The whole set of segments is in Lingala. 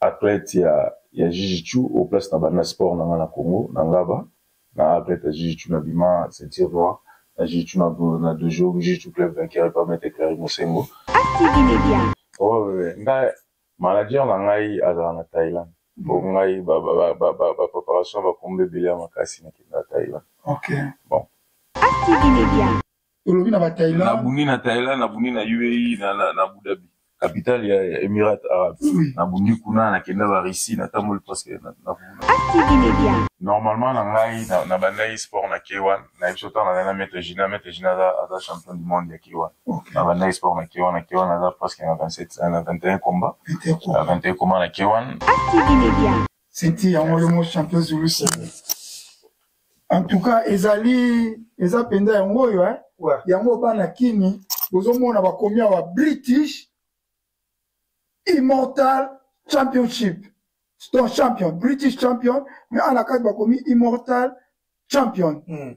Athlète ya ya jujitsu au place na banda sport na nga na Congo na ngaba na athlète ya jujitsu na bima ceinture noire na jujitsu na na dojo jujitsu club vainqueur et pas maître Clary Mosengo. ACTV Media. Oh nga manager na ngai azala na Thailand po ngai ba ba ba ba ba preparation ba combat ebele ya makasi na kenda Thailand. Okay. Bon. ACTV Media. olobi na bathaïland nabundi na thaïland nabundi na uae na, na, na abu dhabi capitale ya emirat arabe oui. nabundi kuna nakenda barussie natamboli presque na, na, na. normalement na ngai na bandaki sport na k1 na biso ntango nazali na maître gina maître gina aza, aza champion du monde ya k1 okay. na bandaki sport na k1 na k1 aza presque na 27 na 21 combat na 21 combat na k1 seti yango yo mo champion zulus en tout cas ezali eza mpenza yango oyo eh? ouais. yango bana kini bozomona bakomi awa british immortal championship to champion british champion mais ana kati bakomi immortal champion mm.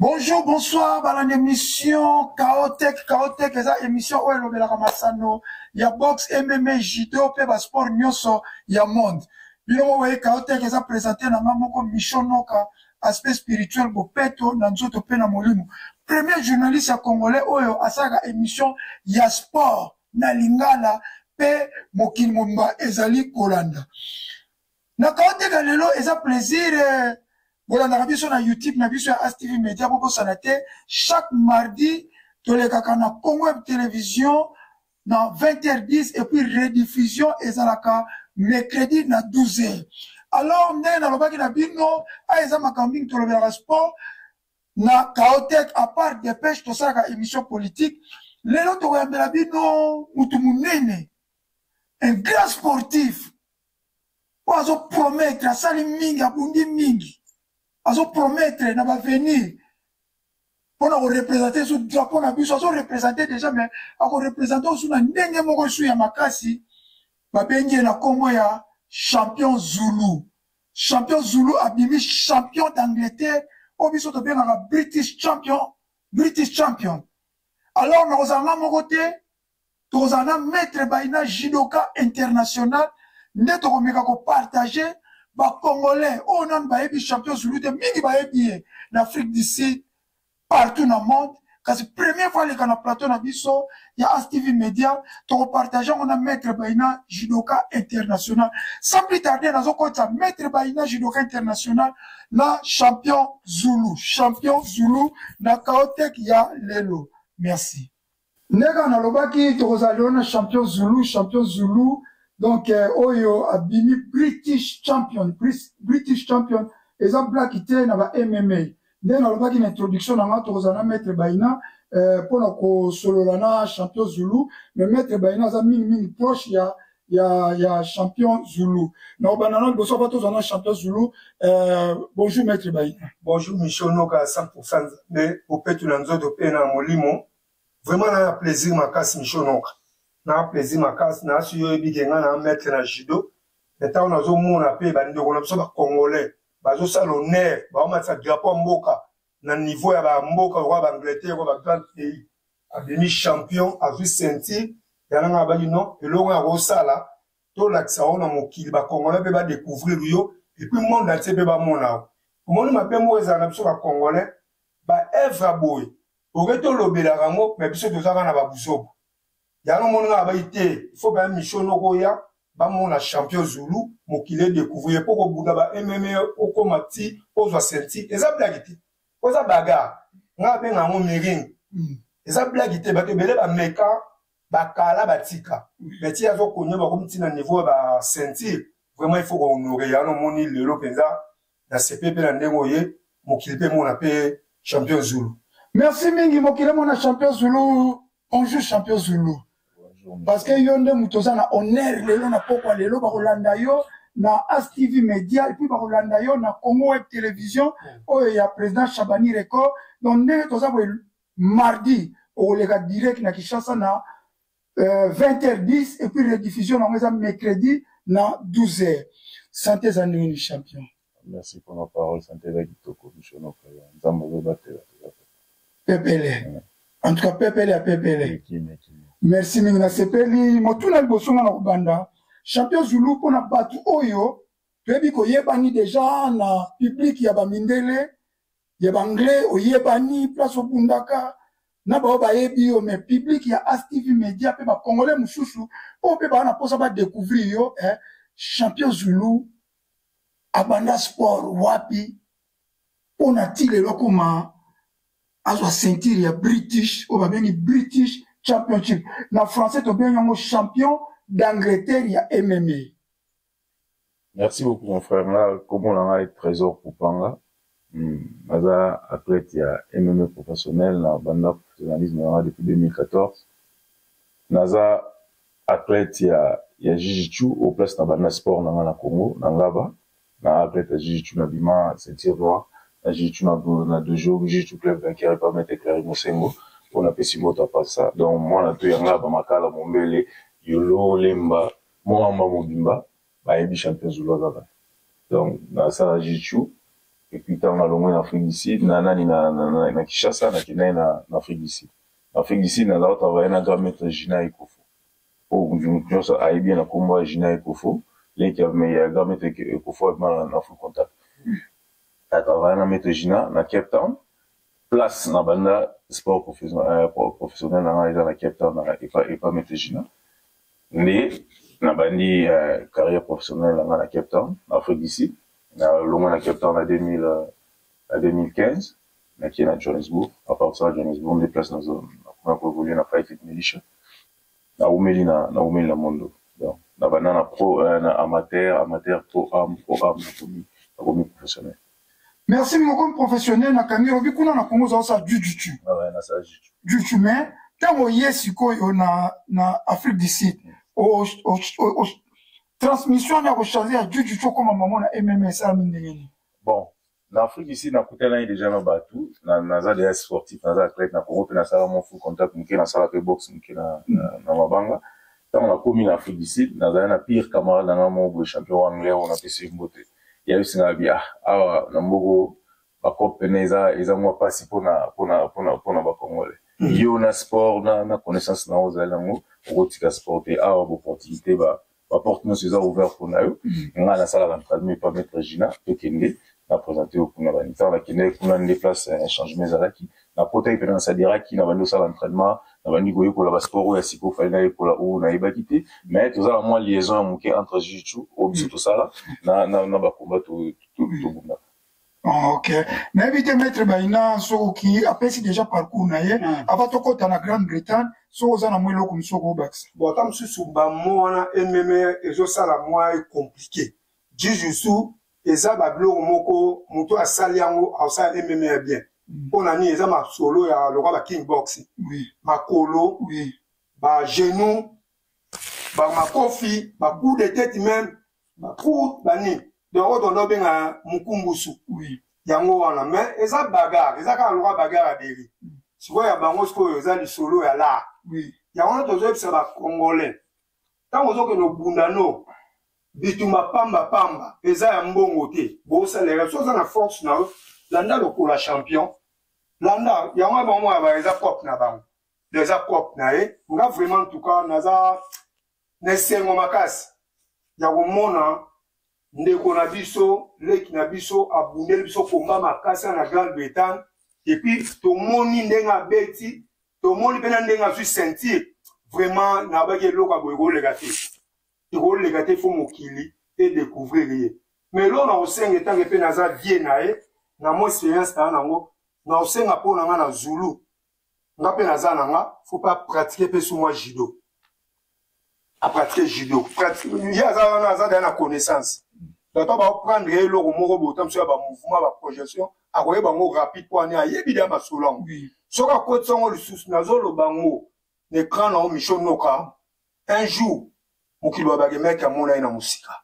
Bonjour, bonsoir, balandi émission Chaotech, Chaotech eza émission oyo elobelaka masano ya boxe, MMA, judo mpe ba sport nyonso ya monde. Bino moko boye Chaotech eza présente na nga moko Michon Noka, aspect spirituel bopeto na nzoto mpe na molimo. Premier journaliste ya congolais oyo asalaka émission ya sport na lingala mpe mokili mobimba ezali kolanda. Na kaoteka lelo eza plaisir bolandaka biso na YouTube na biso ya ASTV Media bobosana te chaque mardi tolekaka na Congo Web Television na 20h10 et puis rediffusion ezalaka mercredi na 12h. Alors ndenge nalobaki na bino a eza makambo mingi tolobelaka sport na Kaotek à part dépêche tosalaka émission politique lelo tokoyambela bino mutu munene un grand sportif oyo azopromettre asali mingi abundi mingi azopromettre na bavenir mpo na korepresente su drapo na biso azorepresente déjà mai akorepresente osu na ndenge moko su ya makasi babengi ye na nkombo ya champion zulu champion zulu abimi champion d'angleterre oyo biso tobengaka british champion british champion alors nakozala nga moko te tozala na maître baina judoka international nde tokomeka kopartage bacongolais oyo oh, nanu bayebi champion zulu te mingi bayebi ye na afrique du sud partout na monde kasi premier fois aleka na plateau na biso ya astv média tokopartage yango na maître baina judoka international sans plus tarder nazokotisa maître baina judoka international na champion zulu champion zulu na kaoteke ya lelo merci nde kaka nalobaki tokozala lelo na champion zulu champion zulu donc eh, oyo abimi british champion british champion eza black te na ba mma nde nalobaki na introduction na nga tokozala na maître baina eh, mpo na kosolola na champion zulu mais maître baina aza mingimingi proche ya ya ya champion zulu na obanda na liboso ava tozwa na champion zulu euh, bonjour maître bayina bonjour michel noka 100 nzambe opetu na nzoto mpe na molimo vraiment na plaisir makasi michel noka na plaisir makasi na asi oyebi ke ngai na maître na judo me ntango nazomona mpe bandeko na biso bacongolais bazosala honneur baomatisa drapeau ya mboka na niveau ya bamboka oyo baangleterre oyo bagrande pays abimi champion azwi ceinture yana nga abaki non eloko ya kosala tolakisa yo na mokili bacongolais mpe badecouvrir yo epuis monde atie mpe bamona yo omoni mabe moko ezala na biso bacongolais baevre ya boye oke tolobelaka yango me biso tozaka na babuzoba yango omoni nga abaki te ifo baya mission noko oya bamona champion zulu mokili edecouvrir ye mpo kobunda ba mme okoma ti ozwa ceinture eza blaki te oza bagarre nga abenga yango miring mm. eza blagi te bato ebele bameka bakala batika mais ti azo konyo bakomi ntina niveau ya baceinture vraiment il faut kohonore yango omoni lelo mpenza na sepe mpe na ndenge oye mokili mpe emona mpe champion zulu merci mingi mokili emona champion zulu Bonjour champion Zulu. Parce que yo nde moto oza na honneur lelo na pokwa lelo bakolanda yo na ASTV Media et puis bakolanda yo na Congo Web Television oyo ya président Chabani Record. Donc ndenge toza boye mardi okoleka direct na Kinshasa na euh, 20h10 et puis rediffusion nango eza mercredi na 12h. Santé za ndenge ni champion. Merci pour nos paroles, santé eza kitoko biso na Ukraine. Nzambe azo batela toza pe. Pepele. En tout cas pepele ya pepele. Merci mingi na sepeli motuna liboso nga na kobanda champion Zulu mpo na bato oyo toyebi koyebani deja na public ya bamindele ya banglais oyebani place obundaka na baoyo bayebi yo mais public ya astv media mpe bacongolais mosusu oyo mpe baa na mposa badecouvrir yo eh, champion Zulu abanda sport wapi mpo na ti lelo akoma azwa ceinture ya british oyo babengi british championship na français tobengi yango champion d'angleterre ya mma merci beaucoup mon frère nga komona ngai trésor kupanga Naza athlète ya MMA professionnel na banda professionnalisme na nga depuis 2014. Naza athlète ya ya Jiu-Jitsu au place na banda sport na nga na Congo na Ngaba. Na athlète ya Jiu-Jitsu na bima ceinture noire na Jiu-Jitsu na na dojo Jiu-Jitsu club vainqueur par Maitre Clary Mosengo oyo na pesi mbote à part ça. Donc mwana tout ya Ngaba, Makala, Mombele, Yolo, Lemba, Moamba mobimba Bayebi champion Zulu aza kaka. Donc nasala jiu-jitsu et puis ntango nalongwe na Afrique du Sud na nani na, na, na, na Kinshasa nakendaki na, na Afrique du Sud. Na Afrique du Sud nazalaki travailler na grand maître Gina Ekofo. Oyo oh, mutu nyonso ayebi ye na nkombo ya Gina Ekofo, leki ya grand maître Ekofo abima na Afrique Contact. Na travailler na maître Gina na Cape Town. place na banda sport euh, professionnel na ngai eza na cape town epa metejina nde nabandi euh, carrière professionnelle na ngai na cape town na afrique du sud nalongwa na cape town na 2015 nakie na johannesbourg apartir na johannesbourg nde place nakoma koevolue na fighting militia naumeli naumeli na mondo donc nabanda na pro euh, na amateur amateur pro am pro am nakomi professionnel Merci moko professionnel na kangi obi kuna na Congo za sa jujuchu. Ah ouais, na sa jujuchu. Jujuchu mais tango ye sikoyo na na Afrique du Sud. O o o transmission na ko changer ya jujuchu comme maman na MMS ami ndengeni. Bon, na Afrique du Sud na kutana déjà na batu, na na za des sportifs, na za athlète na Congo pe na sala mon full contact muke na sala pe boxe muke na na, na mabanga. Tango na komi na Afrique du Sud, na za na pire camarade na nga mo champion anglais on a pe se mbote. ya biso na bia awa na mbogo bacope pene eza eza mwa mpasi mpona mpona mpona mpona bakongole mm. yo na sport na, na connaissance na ozali yango okotika sport te awa baopportunité ba baporte nyonso eza ouvert mpona yo mm. ngai nasalaka ntradmi epa maître gina tokende na présente yo kuna bani ntango nakendeki kuna nde place eh, changement ezalaki nakotaki mpenza na sadiraki nabandi kosala entraînement nabandi koyekola basport oyo ya siko fali nayekola oyo nayebaki te mais toza na mwa liaison ya moke entre jiu oyo biso tosala na, na, na bakomba tobunda ah, ok nayebi te maître baina soki apesi déjà parcours na ye hmm. ava tokɔta na grande bretagne soki oza na mwa eloko mosusu okobakisa bo ata mosusu bamo wana ememe ezosala mwa ecomplike jiu eza ba biloko moko mutu asali yango akosala ememe ya bien mm. mpo na nini eza masolo ya lokwa ba king box oui. makolo oui. ba genou ba makofi ba coup de tete meme ba coup ba nini donc oyo tondo obenga mokumbusu oui. yango wana mais eza bagare eza kaka lokwa bagare ya beri mm. sikoyo ya bango sikoyo eza lisolo ya lar oui. yango wana tozoyebisa bacongolais ntango ozokende obunda no bitumba pamba pamba eza ya mbongo te bosalela so oza na force na yo landa lokola champion landa yango ya bango yaba eza cop na bango eza cop na ye nga vraiment ntuka naza na esengo makasi ya komona ndeko na biso leki na biso abundeli biso komba makasi na grande bretagne epuis tomoni ndenge abeti tomoni mpe na ndenge azwi ceinture vraiment nabaki eloko aboye koleka te ekoleka te fo mokili edecouvrir ye mais eloko na kosenga etange mpe naza vie na ye na mo experience na yango na kosenga mpo na ngai na zulu nga mpe naza na nga fo mpe apratike mpe sumwa judo a pratique judo ye aza wana aza daya na connaissance bato oyo baoprendre ye eloko moko bota mosu ya bamouvement baprojection akoyeba yango rapide mpo ani ayebi deya masolo yango soki akotisa yango lisusu nazoloba yango na ekran na yango micho noka un jour mokili wa bakemeki amona ye na mosika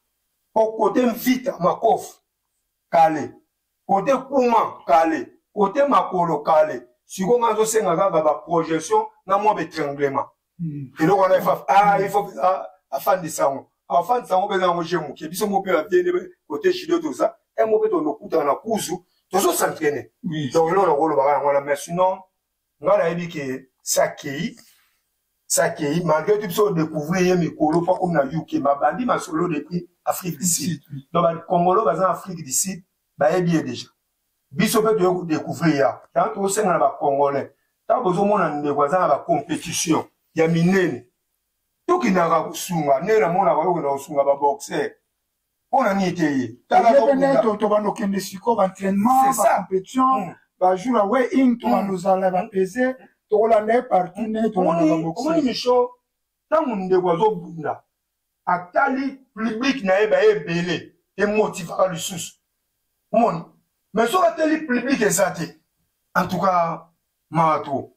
mpo kote mvita makofi kale kote kuma kale kote makolo kale sikoyo nga azosenga kaka baprojection na mwa betranglement hmm. eloko wana efa ah il faut ah, afandisa yango afandisa yango mpenza yango je moke biso mo mpe bavie nde kote judo toza e mo mpe tondokutana na kuzu tozo s'entraîne donc eloko nakolobaka yango wana mais sinon ngai nayebi ke sakei sakei malgré tout biso odécouvrir ye mikolo mpo akomi na uk mabandi masolo depuis afrique du sud donc bakongolo baza na afrique du sud bayebi ye déjà biso mpe toye kodecouvrir ya yango tokosenga na bacongolais ntango bozomona ndeko aza na bacompetition ya minene tokendaka kosunga nde namonaka yokenda kosunga baboxer mpo na nini te ye tobanda okende sikoyo baentrainement bacompetition hmm. bajour ya weing tobanda hmm. ozala bapese tokolanda ye partout nde tolandaka boxer omoni micho ntango ndeko azobunda atali public na ye baye ebele emotivaka lisusu omoni mais soki atali public eza te en tout cas mawa trop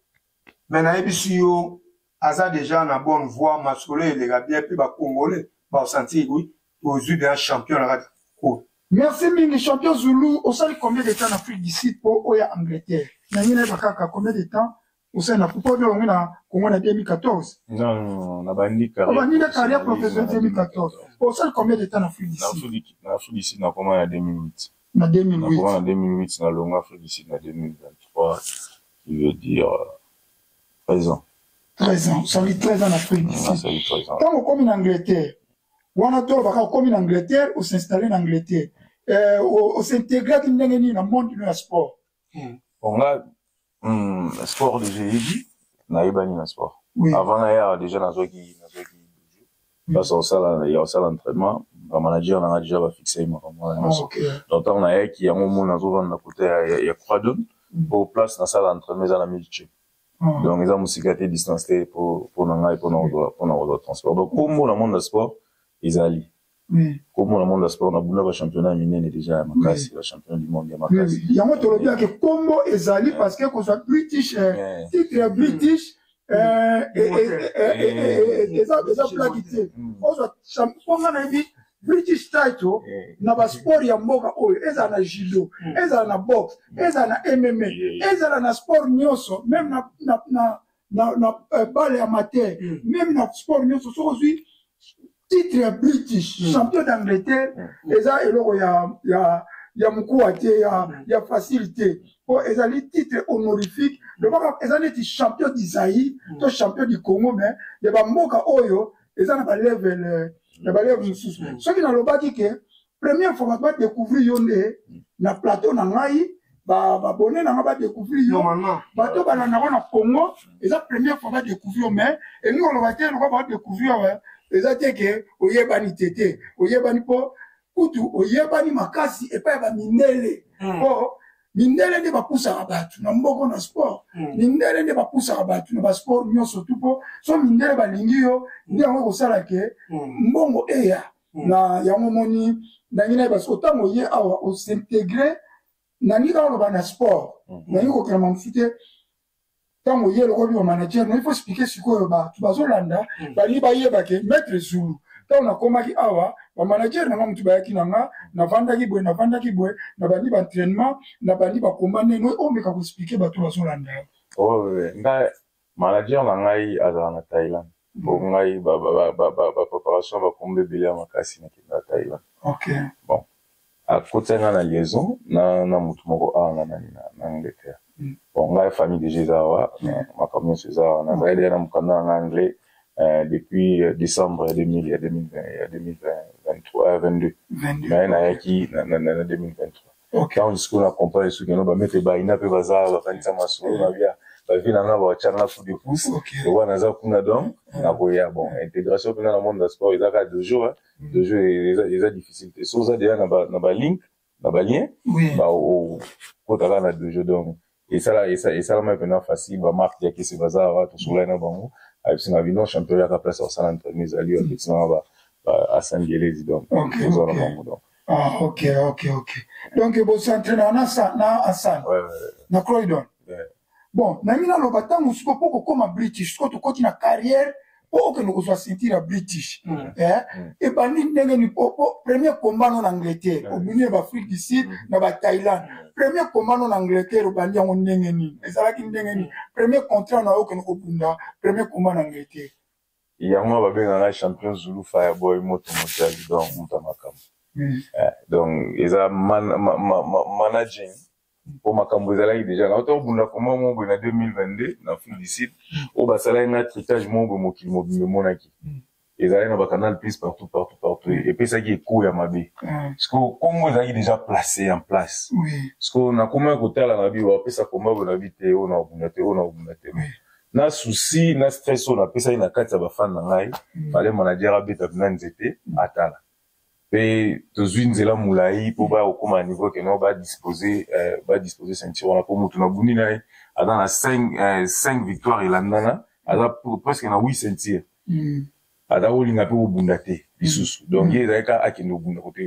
mais nayebisi yo aza deja na bonne voie masolo eleka bien mpe bacongolais baosentir oui tozwi deja champion na kati cour merci mingi champion zulu osali combien de temps na afrique du sud mpo oya angleterre nangi nayeba kaka combien de temps Osa na kupa odio wangu na Congo na 2014. Non, non, non, na bandi carrière. Na bandi na carrière professionnelle 2014. Osa combien de temps na Afrique du Sud? Na Afrique du Sud na koma na 2008. Na 2008. Na koma na 2008 na longa Afrique du Sud na 2023. Qui veut dire 13 euh, ans. 13 ans. Ça veut 13 ans na Afrique du Sud. Ça veut 13 ans. Tant okomi na Angleterre. Wana to baka okomi na Angleterre, o s'installer na Angleterre. Euh, o s'intégrer ndenge nini na monde na sport. Hmm. Bon là Hmm, sport déjà yebi nayebani na sport oui. avant naya déjà nazwaki nazwaki place osala ya osala entraînement bamanager nanga déjà bafixe ye makambo wana ah, nyonso donc ntango nayaki yango mona azovanda kote ya quadon hmm. po place nasala entraînement eza na milche ah. donc eza mosika te distance te mpo na ngai mpo na kozwa transport donc kombo na monde ya sport ezali kombo na monde ya sport na bunda bachampionnat minene deja ya makasi bachampionnat du monde ya makasi yango tolobi yake kombo ezali parce que kozwa british titre british eza plaki te ozwa mpo nga nayebi british title na basport ya mboka oyo ezala na judo ezala na boxe ezala na mma ezala na sport nyonso meme na na, na eh, bale ya mate mm. meme na sport nyonso soki ozwi titre ya british mm. champion d'angleterre mm. eza eloko ya, ya, ya mokuwa te ya, mm. ya facile te mpo ezali titre honorifique mm. lobaka eza neti champion du zaïre mm. to champion du congo mais ya bamboka oyo eza na balevel eh, na balevel mosusu mm. soki nalobaki ke première fois ba découvrir yo nde na plateau na ngai ba ba bonne na ngai ba découvrir yo bato ba na nako na Congo eza première fois ba découvrir mais et nous on va te nako ba découvrir euh, eza te que oyebani tete oyebani po kutu oyebani makasi epai ya ba mindele hmm. po mindele nde bapusaka bato na mboko na sport hmm. mindele nde bapusaka bato na basport nyonso tu mpo so mindele balingi yo nde yango ekosala ke hmm. mbongo eya hmm. na yango omoni ndenge naye parce que ntango oye awa osintegre nalingi kaka oloba na sport hmm. nalingi kokela mamosu te ntango oye lokobi bamanager na ifo explike sikoyo bato bazolanda hmm. balingi bayeba ke maître zulu ntango nakomaki awa bamanager na nga motu bayaki na nga navandaki boye navandaki boye nabandi baentrainement nabandi bakomba ndenge omeka koexplike bato bazolanda oh, nga Manager na ngai azala na Thailand po ngai ba preparation ba kombo ebele ya makasi na kende na Thailand. Okay. Bon. Akotisaki ngai na liaison na na mutu moko awa na nani na na Angleterre. Mm. Bon ngai famille déjà eza awa mais makambo nyonso eza awa. Nazali deja na mokanda na ngai anglais euh, depuis euh, décembre ya 2000 ya 2020 ya 2023 22. 22. Mais nayaki na na 2023. ok yango sikoyo na comprendre soki yango bamete baina mpe baza bakanisa masolo na bia bavi na nga baotya nga coup de pouce lokola naza kuna donc nakoya bon intégration mpena na monde ya sport eza kaka dojo dojo eza difficile te so oza deja na baligne na balien okotaka na dojo donc esala esa- esalama mpena facile ba marque ya kisi baza awa tosolai na bango ayebisi na bino champion yaka place akosala entraînement ezali yo apesi nanga ba- ba- asangelezi donc Okay, eza na okay. bango donc ah ok ok ok donc bosentrainaka na sa- na asane Ouais, ouais, na croydon ouais. bon nangi naloba ntango siko mpo kokoma british siko tokoti na carrière okende kozwa ceinture ya british mm. eh, mm. ebandi ndenge ni premier combat no na angleterre mm. obimi ba afrique du sud na ba thaïlande premier combat no na angleterre obandi yango ndenge nini ezalaki ndenge nini premier contrat na yo okende kobunda premier combat na angleterre yango babenga ngai champion zulu fireboy moto motali donc moto ya makambo eh, donc eza managing mpo makambo ezalaki deja nauta obunda komba moko boye na 2022 na afrique du sud oyo basalaki na tritage moko boye mokili mobimba emonaki mm. ezalaki na bacanal plus partout partout partout mm. epesaki ekoo ya mabe mm. siko nkombo ezalaki deja place en place siko nakomaki kotala na bi bapesa komba boye na bi te oyo na obunda te oyo na obunda te na souci na stress oyo napesaki na kati ya bafane na ngai fale manager abeta bina nzete atala mpe tozwi nzela molai mpo bakokoma na niveau keno badispose eh, badispose ceinture wana mpo motu na bundi na ye aza na 5 eh, victoire elandana aza presque na 8 ceinture mm. aza kolinga mpe kobunda te lisusu mm. donc ye mm. ezalaki kaka akende kobunda kote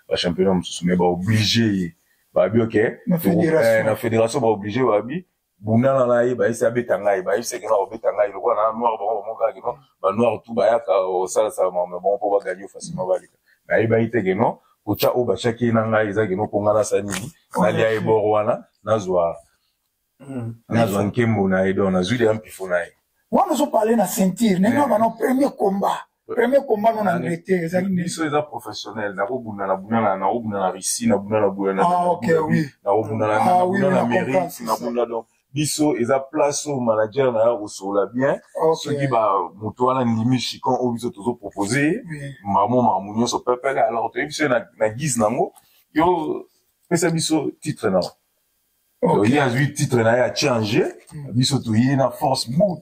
bachampionnat mosusu mai baoblige ye babi oke na fédération baoblige babi bunana na ye bayebisi abeta ngai bayebisi ekena kobeta ngai lokola na noir bango bamokaa keno banoir tu bayaka osalasala mame bango mpo baganye facilement balika nayebaki te keno kotya oyo batyaki ye na ngai eza keno mpo ngai nasa nini nalia ye bor wana nazwa hmm. nazwa nkembo na ye don nazwi deya mpifo na ye wana ozopale na ceinture ndenge wana premier combat premier combat non angleterre ezali biso eza professionnel nakobunda na bunda na nakobunda na russie na bunda na boya nakobunda na ah, ah, amérique na bunda donc biso eza place oyo manager na yo akosola bien soki bamoto wana ndimi chicon oyo biso tozopropose ye mamo mamu nyonso pepele alors toyebi biso na guise nango yo pesa biso titre na Okay. Ye azwi titre na ye achange hmm. biso toye na force bu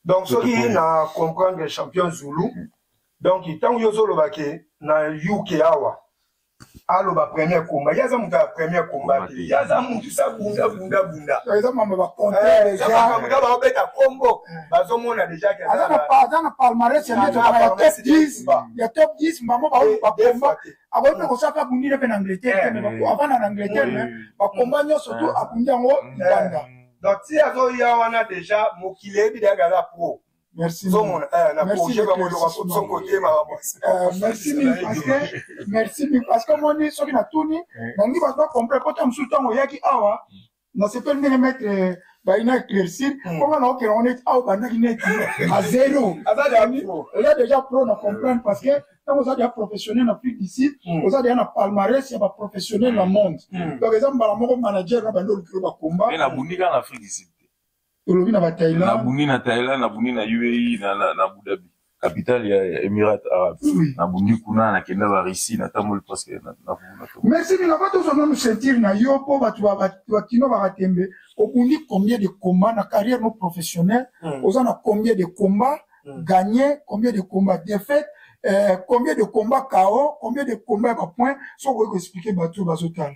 donc soki na comprendre champion zulu hmm. donc ntango yo ozoloba ke na uk awa aloba premier komba ye aza moto ya premier komba te ye aza moto sa bunda bunda bunda eza mambo bakonteamakambo kaka baobeta kombo bazomona deja aza na palmarès ya top 10 ya top 10 bango baoyo bakomba akoki mpe kosala mpe abundi ne mpe na angleterre te me avanda na angleterre me bakomba nyonso tu abundi yango libanda donc ti azoya wana deja mokili eyebi deyaga aza pro Merci. Zomona, eh, na merci projet ba molo ba so côté ma ba. Euh, merci mille parce que merci mille parce que moni soki na tuni, na ngi ba doit comprendre kota musu tango yaki awa. nasepeli ndenge maitre bayi na éclaircir hmm. po bana okela ngo neti awa obandaki neti a zero oza déjà pro na comprendre parce que ntango oza deya professionnel na afrique du sud hmm. oza deya na palmarès ya baprofessionnel na hmm. monde donc eza mbala moko manager na bandi olukilo bakomba olobi na bathaïland nabundi na thaïland nabundi na uae na, na, na abu dhabi capitale ya émirat arabe oui. nabundi kuna nakenda barussie natamboli presque merci bilaba tozwa nanu ceinture na yo mpo bato bakino bakatembe obundi combien de combat na carrière no professionnel mm. oza na combien de combat mm. gagné combien de combat défaite euh, combien de combat cao combien de combat ya bapoint soki okoki koexplike bato oyo bazotala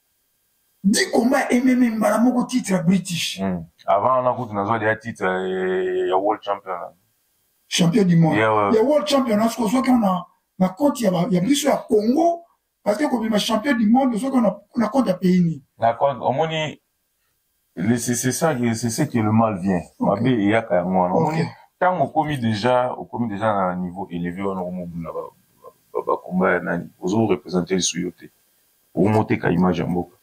di combat ememe mbala moko titre ya british mm. avant wana kutu nazwa deya titre eh, ya world champion champion du monde yeah, ouais. ya world champion soki ozwaki na na compte ya, ya biso ya congo parce que kobima champion du monde ozwaki na compte ya pays nini omoni c'est c'est ça que c'est ce que le mal vient mabe eyaka yango wana omoni ntango okomi déjà okomi déjà na niveau élevé wana okomobunda bakomba ya nani ozo représente lisu yo te omoteka image ya mboka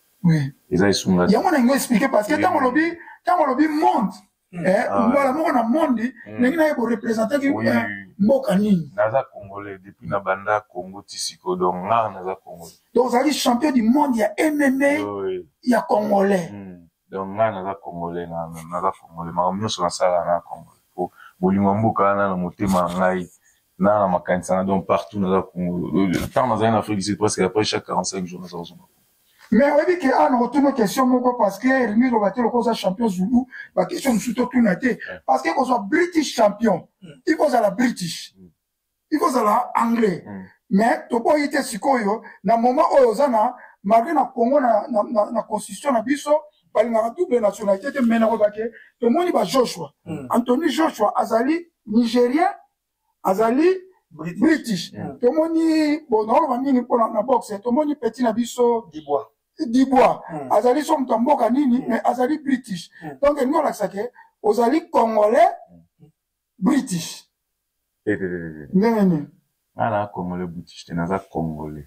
eza esunga yango na yango expliqué parce que ntango olobi ntango olobi monde Hmm. Eh, ah, mbala moko na monde hmm. ndenge naye borepresentaki eh, mboka nini naza congolais depuis na banda congo ti siko donc nga naza congolais donc ozalaki champion du monde ya mma ya congolais hmm. donc nga naza congolais naza congolais makambo nyonso nasala na congolais po bolingo ya mboka wana na motema ya ngai na na makanisa na donc partout naza congolais ntango nazali na afrique du sud presque après chaque 45 jours naza kozonga mais oyebi ke awa nakotuna question moko parce que rimi loba te lokola oza champion zulu baquestion mosusu totuna te parce que kozwa british champion il faut ozala british il faut ozala anglais mais toboyi te sikoyo na moment oyo oza na malgré na congo na, na, na, na constitution na biso balingaka double nationalité te mais nakobake tomoni ba joshua mm. antony joshua azali nigérien azali british, british. Yeah. tomoni bonaoloba mingi mpona na boxe tomoni peti na biso dibwa dibwa mm. azali so moto ya mboka nini mm. mais azali british mm. donc elingi olakisa ke ozali congolais mm. british ndenge nini nga na congolais british te naza congolais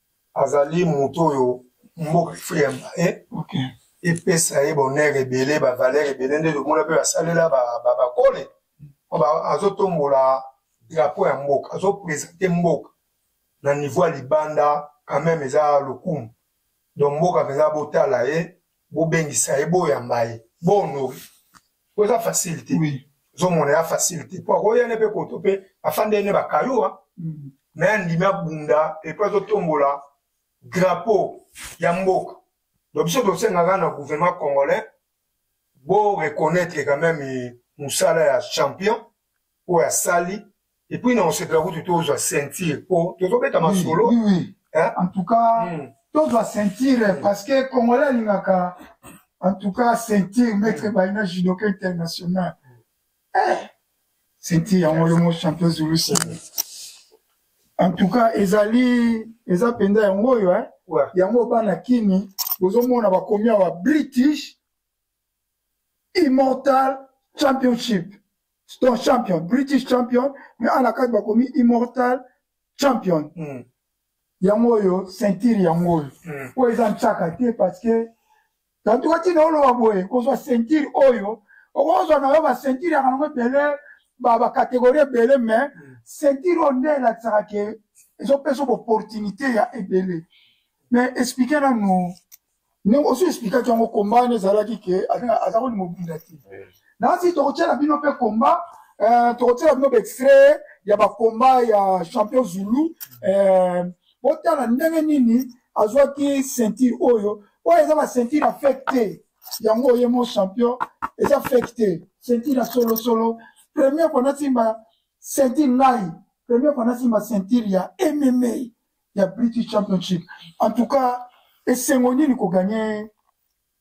azali moto oyo mboka ifrika ya baye okay. epesa ye bonere ebele bavalere ebele nde tomona mpe basalela bakole azotombola drapo ya mboka azopresente mboka na niveau ya libanda quand même eza lokumu donc mboka mpenza botala ye bobengisa ye boyamba ye bohonore po eza facile te ozomona ya facile te po akoya ne mpe koto mpe afanda ye ne bakayua me mm. andimi abunda epo azotombola drapeau ya mboka donc biso tosengaka na gouvernement congolais bo reconnaître quand même mosala ya champion oyo asali epuis na kosepela kutu tozwa ceinture po tozobeta masolo en tout cas hmm. tozwa ceinture hmm. parce que congolais alingaka en tout cas ceinture maître hmm. baina judoka international eh, ceinture yango yo mo champion zulusi en tout cas ezali eza mpenza yango oyo yango bana kini bozomona bakomi awa british immortal championship to champion british champion mais ana kati bakomi immortal champion mm. yango oyo ceinture yango oyo mm. oyo eza nsaka te parce que tantuka ntina oloba boye kozwa ceinture oyo okozwa na yo baceinture ya kanango ebele bacatégorie ebele mais mm. ceinture oyo nde elakisaka ke ezopesa opportunité ya ebele mais explike nanu ndenge osi explikaki yango komba wana ezalaki ke aza koni mobunda te nasi tokotyela bino mpe komba eh, tokotyela bino baextrait ya bakomba ya champion zulu eh, botala ndenge nini azwaki ceinture oyo oyo eza baceinture ya fake te yango oye mo champion eza fake te ceinture ya solosolo premier kona simba ceinture ngai premier kona simba ceinture ya mma ya British Championship. En tout cas, esengo nini ko gagner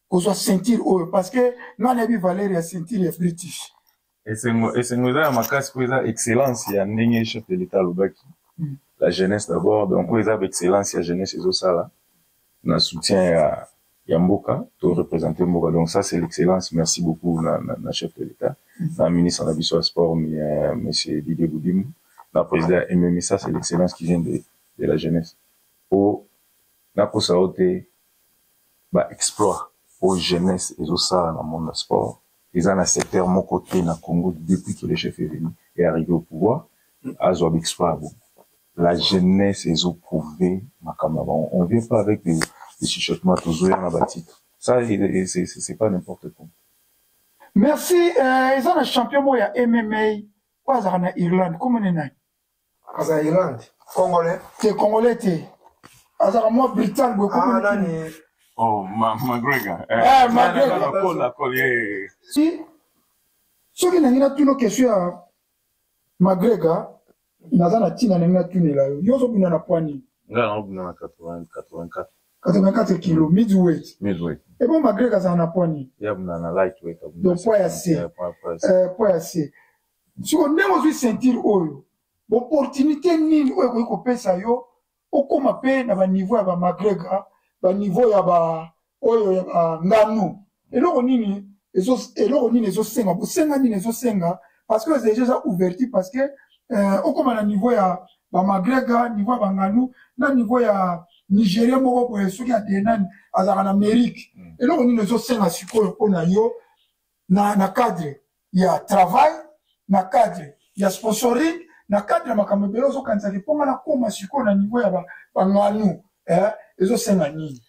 kozwa ceinture oyo parce que ngai nayebi valeur ya ceinture ya British. Esengo esengo eza ya makasi po eza excellence ya ndenge chef de l'État alobaki. Hmm. La jeunesse d'abord donc oyo eza ba excellence ya jeunesse ezosala. na soutien ya ya mboka to représenter mboka donc ça c'est l'excellence merci beaucoup na, na, na chef de l'État na ministre na biso ya sport euh, monsieur Didier Boudimou na président MMI ça c'est l'excellence qui vient de, de la jeunesse po nakosa yo te ba exploit oyo jeunesse ezosala na monde ya sport eza na secteur moko te na Congo depuis que le chef est venu et arrivé au pouvoir azwa ba exploit ya bongo La jeunesse ezo prouver makambo na bango. On vient pas avec des, des chuchotements tozo ya na ba titres. Ça c'est pas n'importe quoi. Merci euh, eza na champion moko ya MMA oyo azalaka na Irlande kombo ne nani? Aza Irlande. Congolais? Te Congolais te. Azalaka mwa Britann boye kombo ah, nani? Oh, ma McGregor. Eh, eh McGregor. Cole, Cole, eh. Si soki nangi natuna question ya McGregor naza na ntina ndenge natunela yo yo ozobunda na pwa nini nga yango bunda na 84 84 kilo midweight midweight ebo eh magrek azala na pwa nini ya bunda na lightweight donc pwa ya se pwa ya se eh, siko ndenge ozwi ceinture oyo opportunité nini oyo ekoki kopesa yo okoma pe na baniveau ya bamagrega baniveau ya ba oyo ya banganu eloko nini eloko nini ezosenga bosenga nini ezosenga parce que deja eza ouverture parce que euh, okoma na niveau ya bamagrega niveau ya banganu na niveau ya nigeria moko boye soki adenani azalaka na amerike hmm. eloko nini ezosenga sikoyo mpo na yo na, na cadre ya travail na cadre ya sponsoring na cadre ya makambo ebele ozokanisa ke mpo nga nakoma sikoyo na niveau ya banganu eh, ezosenga nini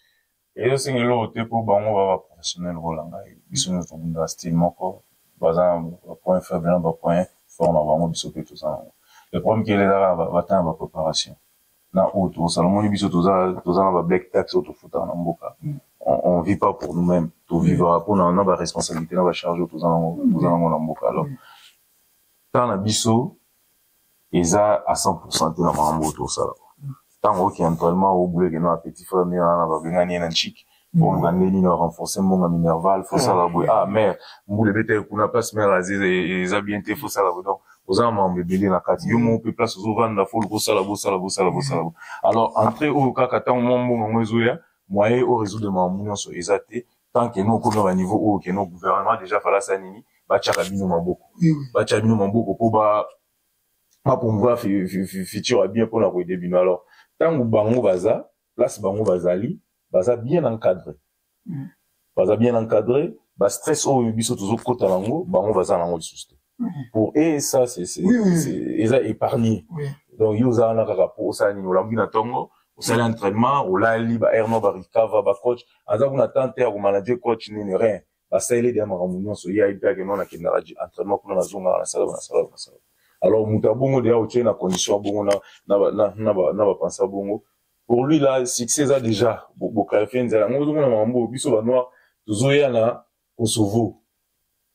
ezosenga eloko te mpo bango ba baprofessionnel kola ngai biso nyonso tobundaka style moko baza na bapoint faible na bapoint fort na bango biso mpe toza nango le problème kelelaka bata na bapreparation na oyo tokosala omoni biso toza toza na ba black tax oyo tofutaka na mboka mm. on, on vit pas pour nous mêmes tovivaka mpo na na baresponsabilité na bacharge oyo toza nango mm. toza nango na mboka alors mm. temps na biso eza à 100 pourcent te na makambo oyo tosala ntango oki entraînement obuleke na petit frère mio wana babengani ye na nchiki bon na ndenge nini renforcer mbongo minerval faut sala boye ah mère mbula ebeta kuna place mère aziz eza bien te faut sala boye donc oza na makambo ebele na kati yo moko mpe place ozovanda faut bosala bosala bosala bosala alors entrée oyo kaka ntango mwa mbongo yango ezoya moyen o résoudre makambo nyonso eza te tant que no okomi na baniveau oyo ke no gouvernement déjà falasa nini batyaka bino maboko batya bino maboko mpo bapromouvoir futur ya bien mpo na koyede bino alors ntango bango baza place bango bazali baza bien encadre mm. baza bien encadre ba stress oyo biso tozokota nango bango baza nango lisusu te mm. pour e ça eza épargné donc yo oza wana kaka po osala nini olambi na ntongo osali entraînement olali ba air no baricava bacoach aza kuna tante ya komanage coach nini rien basaleli deya makambo nyonso ye ayebi kaka keno nakendaka entraînement kuna nazongaka nasalaka nasalaka nasalaka alors moto ya bongo deya otie na condition ya bongo na bapensa bongo pour lui la succès eza déjà boclarifie nzela yango ozomona makambo oyo biso banoir tozoya na kosovo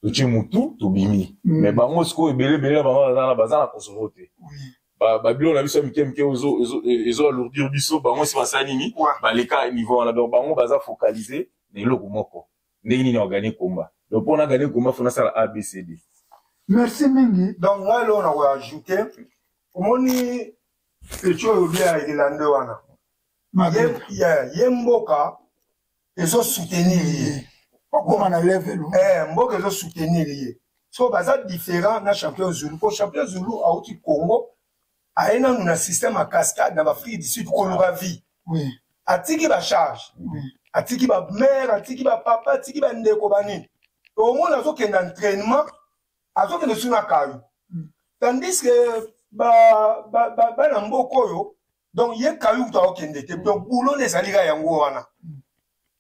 totie motu tobimi mm. mais bango sikoyo ebele ebele na bango baza na kosovo te babilo na biso ya mike mike ezo alourdir biso bango si basali nini baleka niveau wana donc bango baza focalise na eloko moko ndenge nini wagane komba donc mpo nagane komba fo nasala abcd merci mingi donc ngai loo na koajoute omoni peti oyo bia ya irlande wana ye mboka ezosoutenir ye okoma na level eh, mboka ezosoutenir ye so baza différent na champion zulu mpo champion zulu auti congo aye nanu na système ya cascade na baafrike du sud koluka vie oui. atiki bacharge oui. atiki bamare atiki bapapa atiki bandeko banini omona azokenda entrainement azokende su na kayo mm. tandis ke bana ba, ba, ba mboka oyo donc ye kayo kutu akokende te donc boulona ezali ka yango wana mm.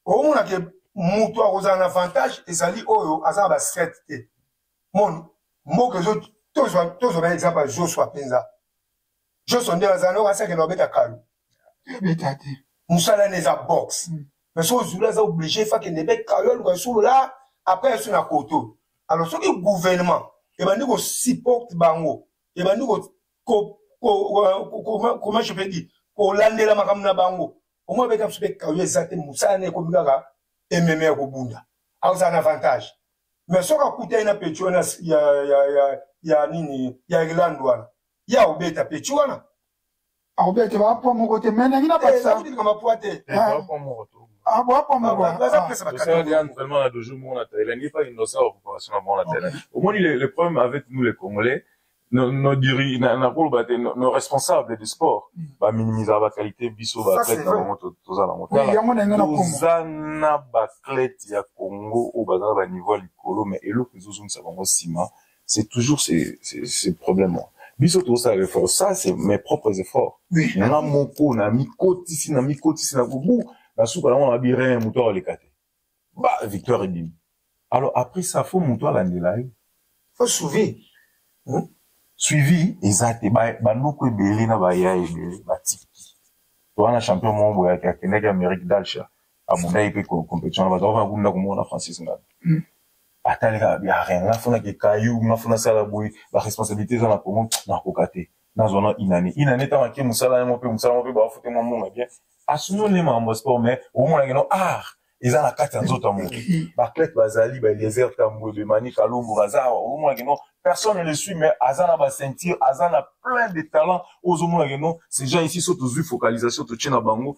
omona ke moto akozala na avantage ezali oyo aza na bastrate te mon mboka ezo tozwa tozwa na exemple ya joshua mpenza joshua nde azala noko asakela obeta kalu ebeta te mosala na eza box mm. mais soki ozuli aza oblige fakende mpe kalu aluka solola apres asu na koto alors soki gouvernement ebandi kosupporte bango ebandi comment je peux dire kolandela makambo na bango omoi abeta biso mpe kayo eza te mosala na ekomi kaka ememe ya kobunda akozala na avantage mais soki akutani na peti wana ya, ya, ya, ya nini ya irlande wana ye akobeta peti wana akobeta bapwa moko te me nangi nabatisalikambo eh, apwa te omoni le problème avec nous les congolais nos, nos diri, na, na koloba te nos, nos responsables de sport mm. ba minimisaka ba qualité biso ba athlète na bango toza na bango toza na ba athlète ya Congo oyo baza na ba niveau ya likolo mais eloko ezozongisa bango nsima c'est toujours ces, ces, ces problèmes là biso tozosala effort ça c'est mes propres efforts oui. nga moko na mikotisi na mikotisi na kobu na suka nango na babi rien moto akoleka te ba victoire ebimi alors après ça fo moto alandela ye fo suivi hmm? suivi eza te banoko ebele na baya ebele batiki toza na champion moko boye akendaki amérique dalsha abundaki mpe compétition na bato akoka kunda komona francis ngabi hmm. ataleka ya rien nga fona kekayu nga fona sala boye baresponsabilité eza na congo nakoka te nazwa na inane inane ntango ake mosala yango mpe mosala yango mpe bafute mwa mbongo bien asolo nde makambo ya sport mais omonaki no art eza na kati ya nzoto ya moto baclete bazali baeliezer tambwe bemani kalombo baza awa ozomonaki no personne ne le suit mais aza na baceinture aza na plein de talent oyo ozomonaki no ces gens ici so tozwi focalisation totie na bango